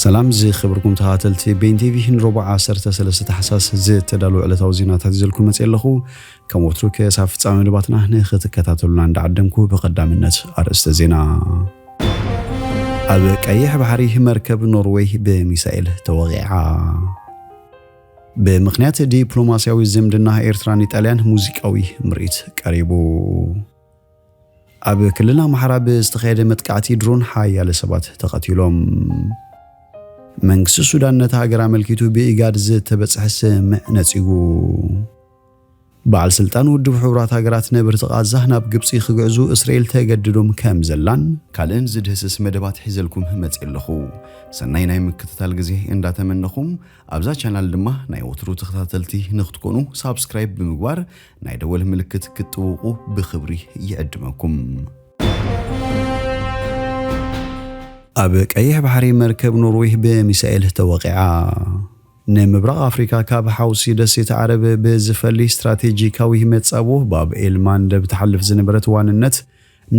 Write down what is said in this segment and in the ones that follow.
ሰላም ዝከብርኩም ተካተልቲ ቤን ቲቪ ንሮቡዕ ዓሰርተ ሰለስተ ታሕሳስ ዝተዳለወ ዕለታዊ ዜናታት ይዘልኩም መጽየ ኣለኹ ከም ወትሩ ክሳብ ፍጻሜ መደባትና ንክትከታተሉና እንዳዓደምኩ ብቀዳምነት ኣርእስተ ዜና ኣብ ቀይሕ ባሕሪ መርከብ ኖርዌይ ብሚሳኤል ተወቂዓ ብምክንያት ዲፕሎማሲያዊ ዝምድና ኤርትራን ኢጣልያን ሙዚቃዊ ምርኢት ቀሪቡ። ኣብ ክልል ኣምሓራ ብዝተኻየደ መጥቃዕቲ ድሮን ሓያለ ሰባት ተቐቲሎም። መንግስቲ ሱዳን ነቲ ሃገር ኣመልኪቱ ብኢጋድ ዝተበጽሐ ስምምዕ ነጺጉ። በዓል ስልጣን ውድብ ሕቡራት ሃገራት ነበርቲ ቓዛ ናብ ግብጺ ክግዕዙ እስራኤል ተገድዶም ከም ዘላን፣ ካልእን ዝድህስስ መደባት ሒዘልኩም መጺኤ ኣለኹ። ሰናይ ናይ ምክትታል ግዜ እንዳተመነኹ፣ ኣብዛ ቻናል ድማ ናይ ወትሩ ተኸታተልቲ ንክትኮኑ ሳብስክራይብ ብምግባር ናይ ደወል ምልክት ክትጥውቑ ብክብሪ ይዕድመኩም። ኣብ ቀይሕ ባሕሪ መርከብ ኖርዌይ ብሚሳኤል ተወቒዓ። ንምብራቕ ኣፍሪካ ካብ ሓውሲ ደሴት ዓረብ ብዝፈሊ ስትራቴጂካዊ መጻቦ ባብ ኤል ማንደብ ትሓልፍ ዝነበረት ዋንነት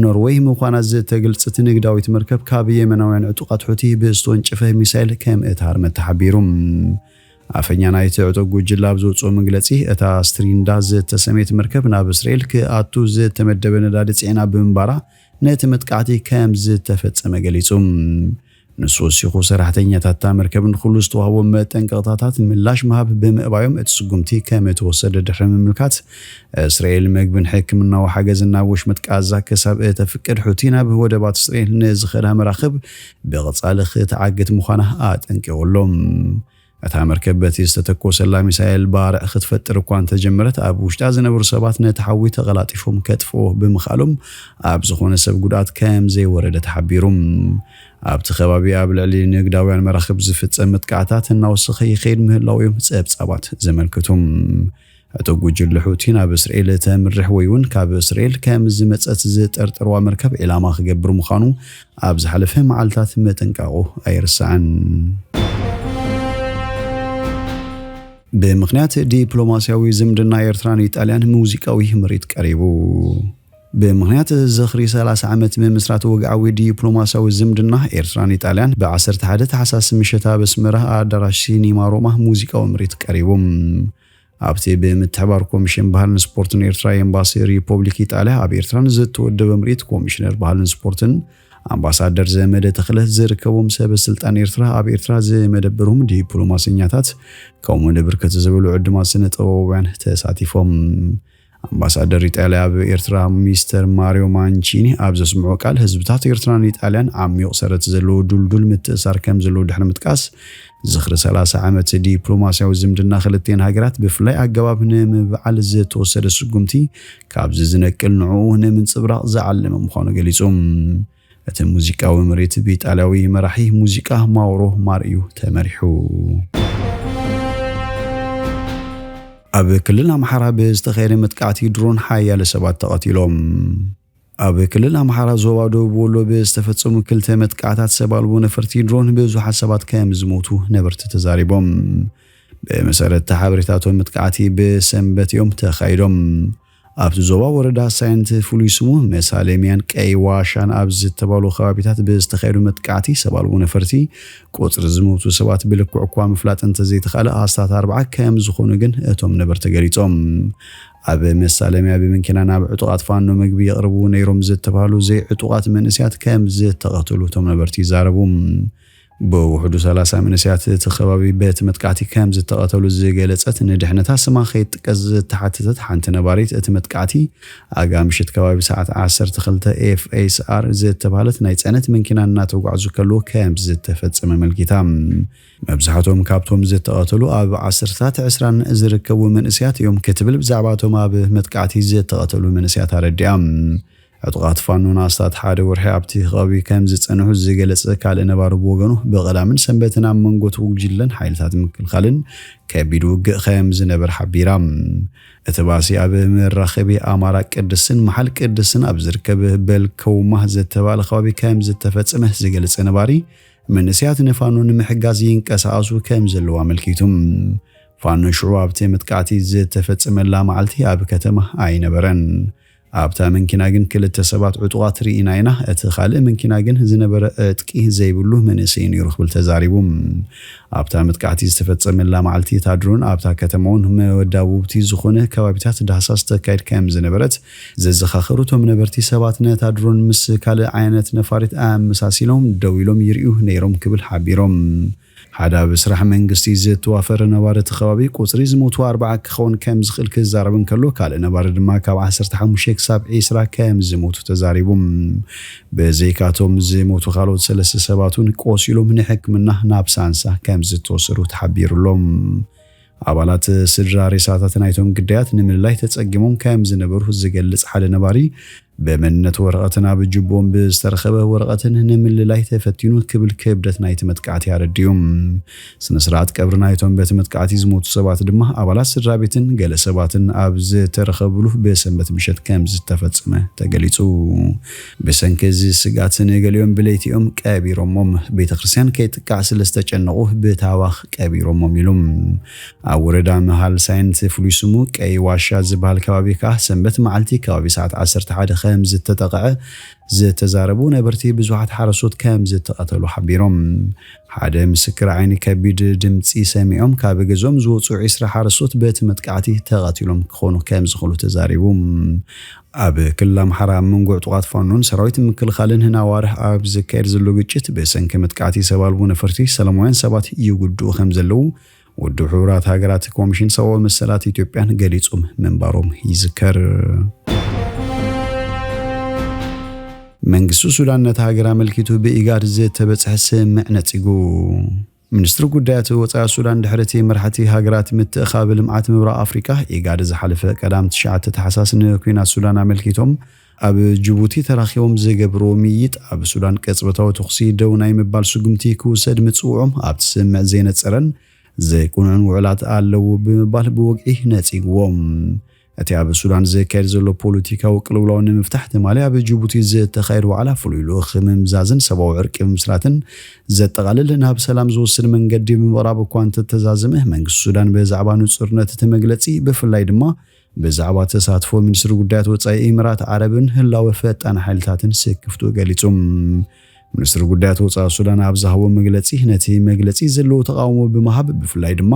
ኖርወይ ምዃና ዝተግልጽት ንግዳዊት መርከብ ካብ የመናውያን ዕጡቓት ሑቲ ብዝተወንጨፈ ሚሳይል ከምእትሃርመት ተሓቢሩ። ኣፈኛ ናይቲ ዕጡቕ ጉጅለ ኣብ ዘውጽኦ መግለጺ፣ እታ ስትሪንዳ ዝተሰምየት መርከብ ናብ እስራኤል ክኣቱ ዝተመደበ ነዳዲ ጽዒና ብምንባራ ነቲ መጥቃዕቲ ከምዝተፈጸመ ገሊጹ። ንሱ ወሲኹ፣ ሰራሕተኛታት እታ መርከብ ንኹሉ ዝተዋህቦም መጠንቀቕታታት ምላሽ ምሃብ ብምእባዮም እቲ ስጉምቲ ከምእተወሰደ ድሕሪ ምምልካት፣ እስራኤል መግብን ሕክምናዊ ሓገዝን ናብ ወሽመጥ ቃዛ ክሳብ እተፍቅድ ሑቲ ናብ ወደባት እስራኤል ንዝኸዳ መራኽብ ብቐጻሊ ክትዓግት ምዃና ኣጠንቂቑ ኣሎ። እታ መርከብ በቲ ዝተተኮሰላ ሚሳይል ባርዕ ክትፈጥር እኳ እንተጀመረት ኣብ ውሽጣ ዝነበሩ ሰባት ነቲ ሓዊ ተቐላጢፎም ከጥፍእዎ ብምኽኣሎም ኣብ ዝኾነ ሰብ ጉድኣት ከምዘይወረደ ተሓቢሩ። ኣብቲ ከባቢ ኣብ ልዕሊ ንግዳውያን መራኽብ ዝፍጸም መጥቃዕታት እናወሰኸ ይኸይድ ምህላዉ'ዮም ጸብጻባት ዘመልክቱ። እቲ ጉጅለ ሑቲ ናብ እስርኤል እተምርሕ ወይ'ውን ካብ እስርኤል ከም ዝመጸት ዝጠርጠርዋ መርከብ ዒላማ ክገብር ምዃኑ ኣብ ዝሓለፈ መዓልታት ምጥንቃቑ ኣይርሳዕን። ብምኽንያት ዲፕሎማስያዊ ዝምድና ኤርትራን ኢጣልያን ሙዚቃዊ ምርኢት ቀሪቡ። ብምኽንያት ዝኽሪ ሰላሳ ዓመት ምምስራት ወግዓዊ ዲፕሎማስያዊ ዝምድና ኤርትራን ኢጣልያን ብ ዓሰርተ ሓደ ታሕሳስ ምሸት ኣብ ኣስመራ ኣዳራሽ ሲኒማ ሮማ ሙዚቃዊ ምርኢት ቀሪቡ። ኣብቲ ብምትሕባር ኮሚሽን ባህልን ስፖርትን ኤርትራ ኤምባሲ ሪፖብሊክ ኢጣልያ ኣብ ኤርትራ ንዝተወደበ ምርኢት ኮሚሽነር ባህልን ስፖርትን ኣምባሳደር ዘመደ ተኽለ ዝርከቦም ሰበ ስልጣን ኤርትራ ኣብ ኤርትራ ዝመደበሮም ዲፕሎማሰኛታት ከምኡ ንብርክት ዝበሉ ዕዱማት ስነ ጥበባውያን ተሳቲፎም ኣምባሳደር ኢጣልያ ኣብ ኤርትራ ሚስተር ማርዮ ማንቺኒ ኣብ ዘስምዖ ቃል፣ ህዝብታት ኤርትራን ኢጣልያን ዓሚዩቕ ሰረት ዘለዎ ዱልዱል ምትእሳር ከምዘለዎ ድሕሪ ምጥቃስ፣ ዝኽሪ ሰላሳ ዓመት ዲፕሎማስያዊ ዝምድና ክልቲኤን ሃገራት ብፍላይ ኣገባብ ንምብዓል ዝተወሰደ ስጉምቲ ካብዚ ዝነቅል ንዕኡ ንምንጽብራቕ ዝዓለመ ምዃኑ ገሊጹ። እቲ ሙዚቃዊ ምርኢት ብኢጣልያዊ መራሒ ሙዚቃ ማውሮ ማር'ዩ ተመሪሑ። ኣብ ክልል ኣምሓራ ብዝተኻየደ መጥቃዕቲ ድሮን ሓያለ ሰባት ተቐቲሎም። ኣብ ክልል ኣምሓራ ዞባ ደቡብ ወሎ ብዝተፈጸሙ ክልተ መጥቃዕታት ሰብ ኣልቦ ነፈርቲ ድሮን ብዙሓት ሰባት ከም ዝሞቱ ነበርቲ ተዛሪቦም። ብመሰረት ሓበሬታቶም መጥቃዕቲ ብሰንበት እዮም ተኻይዶም። ኣብቲ ዞባ ወረዳ ሳይንት ፍሉይ ስሙ መሳሌምያን ቀይ ዋሻን ኣብ ዝተባሉ ከባቢታት ብዝተኻየዱ መጥቃዕቲ ሰብ ኣልቦ ነፈርቲ ቁፅሪ ዝሞቱ ሰባት ብልክዑ እኳ ምፍላጥ እንተዘይተኻእለ ኣስታት ኣርብዓ ከምዝኾኑ ግን እቶም ነበርቲ ገሊፆም። ኣብ መሳለምያ ብምንኪና ናብ ዕጡቓት ፋኖ ምግቢ የቕርቡ ነይሮም ዝተብሃሉ ዘይዕጡቓት መንእሰያት ከምዝተቐተሉ እቶም ነበርቲ ይዛረቡ። ብውሕዱ ሰላሳ መንእሰያት እቲ ከባቢ በቲ መጥቃዕቲ ከም ዝተቐተሉ ዝገለጸት ንድሕነታ ስማ ከይጥቀስ ዝተሓተተት ሓንቲ ነባሪት እቲ መጥቃዕቲ ኣጋ ምሽት ከባቢ ሰዓት ዓሰርተ ክልተ FSR ዝተባህለት ናይ ጸዕነት መንኪና እናተጓዕዙ ከለዉ ከም ዝተፈጸመ ኣመልኪታ። መብዛሕቶም ካብቶም ዝተቐተሉ ኣብ ዓሰርተታት ዕስራን ዝርከቡ መንእሰያት እዮም ክትብል ብዛዕባ እቶም ኣብ መጥቃዕቲ ዝተቐተሉ መንእሰያት ኣረዲኣ። ዕጡቓት ፋኖ ንኣስታት ሓደ ወርሒ ኣብቲ ከባቢ ከም ዝጸንሑ ዝገለጸ ካልእ ነባሪ ብወገኑ፣ ብቀዳምን ሰንበትን ኣብ መንጎ'ቲ ጉጅለን ሓይልታት ምክልኻልን ከቢድ ውግእ ከም ዝነበር ሓቢራ። እቲ ባእሲ ኣብ መራኸቢ ኣማራ ቅድስን መሓል ቅድስን ኣብ ዝርከብ በልከውማ ዝተባህለ ከባቢ ከም ዝተፈጸመ ዝገልጸ ነባሪ፣ መንእሰያት ንፋኖ ንምሕጋዝ ይንቀሳቐሱ ከም ዘለዉ ኣመልኪቱ። ፋኖ ሽዑ ኣብቲ መጥቃዕቲ ዝተፈጸመላ መዓልቲ ኣብ ከተማ ኣይነበረን። ኣብታ መንኪና ግን ክልተ ሰባት ዕጡቓት ርኢና ኢና፣ እቲ ካልእ መንኪና ግን ዝነበረ ዕጥቂ ዘይብሉ መንእሰይ ነይሩ ክብል ተዛሪቡ። ኣብታ መጥቃዕቲ ዝተፈጸመላ መዓልቲ እታ ድሮን ኣብታ ከተማ'ውን መወዳቡብቲ ዝኾነ ከባቢታት ዳህሳስ ተካይድ ከምዝነበረት ዘዘኻኸሩ እቶም ነበርቲ ሰባት ነታ ድሮን ምስ ካልእ ዓይነት ነፋሪት ኣመሳሲሎም ደው ኢሎም ይርእዩ ነይሮም ክብል ሓቢሮም። ሓደ ኣብ ስራሕ መንግስቲ ዝተዋፈረ ነባሪ እቲ ከባቢ፣ ቁጽሪ ዝሞቱ ኣርብዓ ክኸውን ከም ዝኽእል ክዛረብ እንከሎ፣ ካልእ ነባሪ ድማ ካብ ዓሰርተ ሓሙሽተ ክሳብ ዕስራ ከም ዝሞቱ ተዛሪቡ። ብዘይካ'ቶም ዝሞቱ ካልኦት ሰለስተ ሰባት'ውን ቆሲሎም ንሕክምና ናብ ሳንሳ ከም ዝተወሰዱ ተሓቢሩ'ሎ። ኣባላት ስድራ ሬሳታት ናይቶም ግዳያት ንምልላይ ተጸጊሞም ከም ዝነበሩ ዝገልጽ ሓደ ነባሪ፣ ብመንነት ወረቐትን ኣብ ጁቦኦም ብዝተረኸበ ወረቐትን ንምልላይ ተፈቲኑ ክብል ክብደት ናይቲ መጥቃዕቲ ኣረዲኡ። ስነ-ስርዓት ቀብሪ ናይቶም በቲ መጥቃዕቲ ዝሞቱ ሰባት ድማ ኣባላት ስድራቤትን ገለ ሰባትን ኣብ ዝተረኸብሉ ብሰንበት ምሸት ከም ዝተፈጸመ ተገሊጹ። ብሰንኪ እዚ ስግኣት ንገሊኦም ብለይቲ'ዮም ቀቢሮሞም፣ ቤተክርስትያን ከይጥቃዕ ስለዝተጨነቑ ብታህዋኽ ቀቢሮሞም ኢሉ። ኣብ ወረዳ መሃል ሳይንት ፍሉይ ስሙ ቀይ ዋሻ ዝበሃል ከባቢ ከኣ ሰንበት መዓልቲ ከባቢ ሰዓት ዓሰርተ ሓደ ከምዝተጠቕዐ ዝተዛረቡ ነበርቲ ብዙሓት ሓረስቶት ከምዝተቐተሉ ሓቢሮም። ሓደ ምስክር ዓይኒ ከቢድ ድምጺ ሰሚዖም ካብ ገዝኦም ዝወጽኡ ዒስራ ሓረስቶት በቲ መጥቃዕቲ ተቐቲሎም ክኾኑ ከምዝኽእሉ ተዛሪቡ። ኣብ ክልል ኣምሓራ ኣብ መንጎ ዕጡቓት ፋኖን ሰራዊት ምክልኻልን ንኣዋርሕ ኣብ ዝካየድ ዘሎ ግጭት ብሰንኪ መጥቃዕቲ ሰብ ኣልቦ ነፈርቲ ሰላማውያን ሰባት ይጉድኡ ከምዘለዉ ውድብ ሕቡራት ሃገራት ኮሚሽን ሰብኣዊ መሰላት ኢትዮጵያን ገሊጾም ምንባሮም ይዝከር። መንግስቲ ሱዳን ነታ ሃገር ኣመልኪቱ ብኢጋድ ዝተበጽሐ ስምምዕ ነጺጉ። ሚኒስትሪ ጉዳያት ወጻኢ ሱዳን ድሕሪ'ቲ መራሕቲ ሃገራት ምትእኻብ ልምዓት ምብራቕ ኣፍሪቃ፣ ኢጋድ፣ ዝሓለፈ ቀዳም ትሽዓተ ታሕሳስ ንኲናት ሱዳን ኣመልኪቶም ኣብ ጅቡቲ ተራኺቦም ዝገብርዎ ምይይጥ፣ ኣብ ሱዳን ቅጽበታዊ ተኹሲ ደው ናይ ምባል ስጉምቲ ክውሰድ ምጽውዖም ኣብቲ ስምምዕ ዘይነጸረን ዘይቅኑዕን ውዕላት ኣለዉ ብምባል ብወግዒ ነጺግዎም። እቲ ኣብ ሱዳን ዝካየድ ዘሎ ፖለቲካዊ ቅልውላው ንምፍታሕ ትማሊ ኣብ ጅቡቲ ዝተኻየድ ዋዕላ ፍሉይ ልኡኽ ምምዛዝን ሰብኣዊ ዕርቂ ምምስራትን ዘጠቓልል ናብ ሰላም ዝወስድ መንገዲ ብምቕራብ እኳ እንተተዛዘመ መንግስቲ ሱዳን ብዛዕባ ንጹርነት እቲ መግለጺ ብፍላይ ድማ ብዛዕባ ተሳትፎ ሚኒስትሪ ጉዳያት ወጻኢ ኢምራት ዓረብን ህላወ ፈጣን ሓይልታትን ስክፍትኡ ገሊጹ። ሚኒስትሪ ጉዳያት ወጻኢ ሱዳን ኣብ ዝሃቦ መግለጺ ነቲ መግለጺ ዘለዎ ተቓውሞ ብምሃብ ብፍላይ ድማ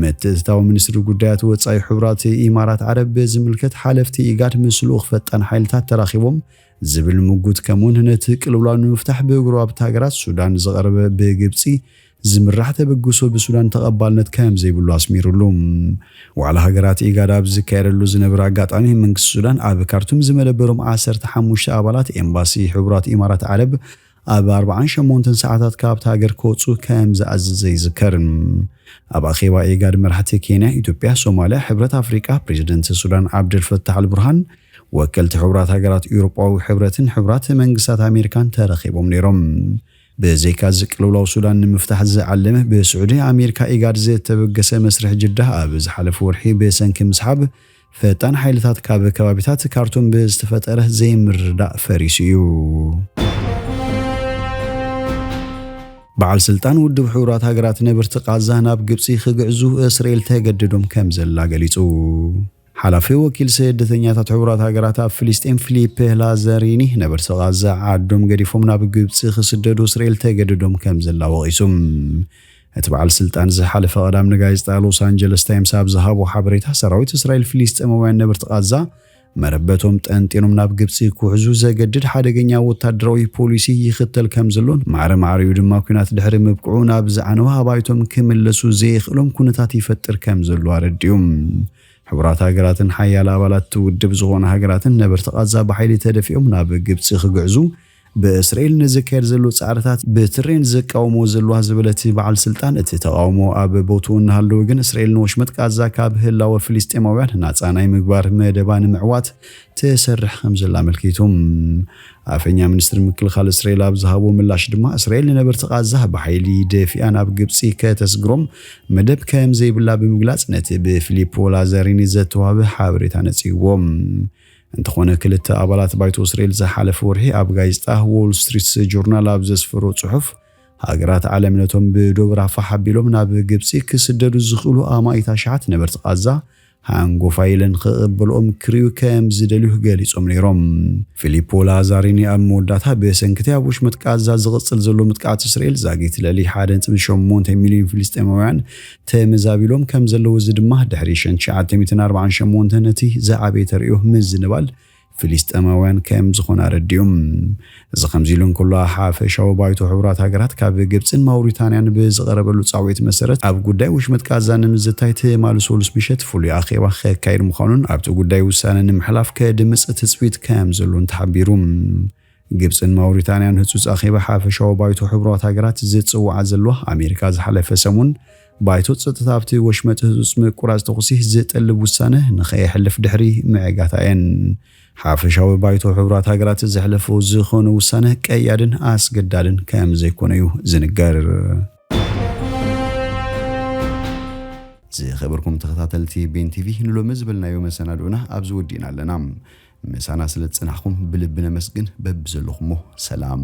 ምትእትታው ሚኒስትሪ ጉዳያት ወጻኢ ሕቡራት ኢማራት ዓረብ ብዝምልከት ሓለፍቲ ኢጋድ ምስ ልኡኽ ፈጣን ሓይልታት ተራኺቦም ዝብል ምጉት ከምኡውን ነቲ ቅልውላው ንምፍታሕ ብጎረባብቲ ሃገራት ሱዳን ዝቐረበ ብግብጺ ዝምራሕ ተበግሶ ብሱዳን ተቐባልነት ከም ዘይብሉ ኣስሚሩሉ። ዋዕላ ሃገራት ኢጋድ ኣብ ዝካየደሉ ዝነበረ ኣጋጣሚ መንግስቲ ሱዳን ኣብ ካርቱም ዝመደበሮም ዓሰርተ ሓሙሽተ ኣባላት ኤምባሲ ሕቡራት ኢማራት ዓረብ ኣብ ኣርብዓን ሸሞንተን ሰዓታት ካብታ ሃገር ክወጽኡ ከም ዝኣዘዘ ይዝከር። ኣብ ኣኼባ ኢጋድ መራሕቲ ኬንያ፣ ኢትዮጵያ፣ ሶማልያ፣ ሕብረት ኣፍሪቃ፣ ፕረዚደንት ሱዳን ዓብደልፈታሕ ኣልቡርሃን፣ ወከልቲ ሕቡራት ሃገራት፣ ኤውሮጳዊ ሕብረትን ሕቡራት መንግስታት ኣሜሪካን ተረኺቦም ነይሮም። ብዘይካ'ዚ ቅልውላው ሱዳን ንምፍታሕ ዝዓለመ ብስዑዲ፣ ኣሜሪካ፣ ኢጋድ ዝተበገሰ መስርሕ ጅዳ ኣብ ዝሓለፈ ወርሒ ብሰንኪ ምስሓብ ፈጣን ሓይልታት ካብ ከባቢታት ካርቱም ብዝተፈጠረ ዘይምርዳእ ፈሪሱ እዩ። በዓል ስልጣን ውድብ ሕቡራት ሃገራት ነብርቲ ቃዛ ናብ ግብፂ ክግዕዙ እስራኤል ተገድዶም ከም ዘላ ገሊፁ። ሓላፊ ወኪል ስደተኛታት ሕቡራት ሃገራት ኣብ ፍልስጤም ፊሊፕ ላዘሪኒ ነበርቲ ቃዛ ዓዶም ገዲፎም ናብ ግብፂ ክስደዱ እስራኤል ተገድዶም ከም ዘላ ወቒሱ። እቲ በዓል ስልጣን ዝሓለፈ ቀዳም ንጋዜጣ ሎስ ኣንጀለስ ታይምስ ኣብ ዝሃቦ ሓበሬታ ሰራዊት እስራኤል ፍልስጤማውያን ነበርቲ ቓዛ መረበቶም ጠንጢኖም ናብ ግብፂ ክውሕዙ ዘገድድ ሓደገኛ ወታደራዊ ፖሊሲ ይኽተል ከም ዘሎን ማዕረ ማዕሪኡ ድማ ኲናት ድሕሪ ምብቅዑ ናብ ዝዓነወ ኣባይቶም ክምለሱ ዘየኽእሎም ኩነታት ይፈጥር ከም ዘሎ ኣረዲኡ። ሕቡራት ሃገራትን ሓያለ ኣባላት እቲ ውድብ ዝኾና ሃገራትን ነበርቲ ቓዛ ብሓይሊ ተደፊኦም ናብ ግብፂ ክግዕዙ ብእስራኤል ንዝካየድ ዘሎ ጻዕርታት ብትሬንድ ዝቃወምዎ ዘለዋ ዝበለ እቲ በዓል ስልጣን፣ እቲ ተቓውሞ ኣብ ቦትኡ እናሃለወ ግን እስራኤል ንወሽመጥ ቓዛ ካብ ህላወ ፍልስጤማውያን ናጻ ናይ ምግባር መደባ ንምዕዋት ትሰርሕ ከምዘላ ኣመልኪቱ። ኣፈኛ ሚኒስትሪ ምክልኻል እስራኤል ኣብ ዝሃቦ ምላሽ ድማ፣ እስራኤል ንነበርቲ ቓዛ ብሓይሊ ደፊኣ ናብ ግብጺ ከተስግሮም መደብ ከምዘይብላ ብምግላጽ ነቲ ብፊሊፖ ላዛሪኒ ዘተዋህበ ሓበሬታ ነጺግዎ። እንተኾነ ክልተ ኣባላት ባይቶ እስራኤል ዝሓለፈ ወርሒ ኣብ ጋዜጣ ዎል ስትሪትስ ጆርናል ኣብ ዘስፈሮ ጽሑፍ ሃገራት ዓለም ነቶም ብዶብ ራፋሕ ኣቢሎም ናብ ግብጺ ክስደዱ ዝኽእሉ ኣማኢት ኣሽሓት ነበርቲ ቓዛ ሃንጎፋይ ኢለን ክቕበልኦም ክርእዩ ከም ዝደልዩ ገሊጾም ነይሮም። ፊሊፖ ላዛሪኒ ኣብ መወዳእታ ብሰንኪ'ቲ ኣብ ወሽመጥ ቓዛ ዝቕጽል ዘሎ ምጥቃዕት እስራኤል ዛጊት ልዕሊ ሓደ ነጥቢ ሸሞንተ ሚልዮን ፍልስጤማውያን ተመዛቢሎም ከም ዘለዉ እዚ ድማ ድሕሪ ሸን ትሽዓተ ሚእትን ኣርባዓን ሸሞንተን ነቲ ዝዓበየ ተርእዮ ምዝንባል ፍሊስጠማውያን ከም ዝኾነ ኣረዲኡ። እዚ ከምዚ ኢሉ እንከሎ ሓፈሻዊ ባይቶ ሕቡራት ሃገራት ካብ ግብጽን ማውሪታንያን ብዝቐረበሉ ጻውዒት መሰረት ኣብ ጉዳይ ወሽመጥ ቃዛ ንምዝታይ ትማሊ ሰሉስ ምሸት ፍሉይ ኣኼባ ከካይድ ምዃኑን ኣብቲ ጉዳይ ውሳነ ንምሕላፍ ከድምጽ ትጽቢት ከም ዘሎን ተሓቢሩ። ግብጽን ማውሪታንያን ህጹጽ ኣኼባ ሓፈሻዊ ባይቶ ሕቡራት ሃገራት ዝጽውዓ ዘለዋ ኣሜሪካ ዝሓለፈ ሰሙን ባይቶ ጸጥታ ኣብቲ ወሽመጥ ህጹጽ ምቁራጽ ተኹሲ ዝጥልብ ውሳነ ንኸየሕልፍ ድሕሪ ምዕጋታ እየን። ሓፈሻዊ ባይቶ ሕቡራት ሃገራት ዘሕለፎ ዝኾነ ውሳነ ቀያድን ኣስገዳድን ከም ዘይኮነ እዩ ዝንገር። ዝኸበርኩም ተኸታተልቲ ቤን ቲቪ ንሎሚ ዝበልናዮ መሰናድኦና ኣብዚ ወዲእና ኣለና። ምሳና ስለ ዝጸናሕኩም ብልቢ ነመስግን በብዘለኹሞ ሰላም።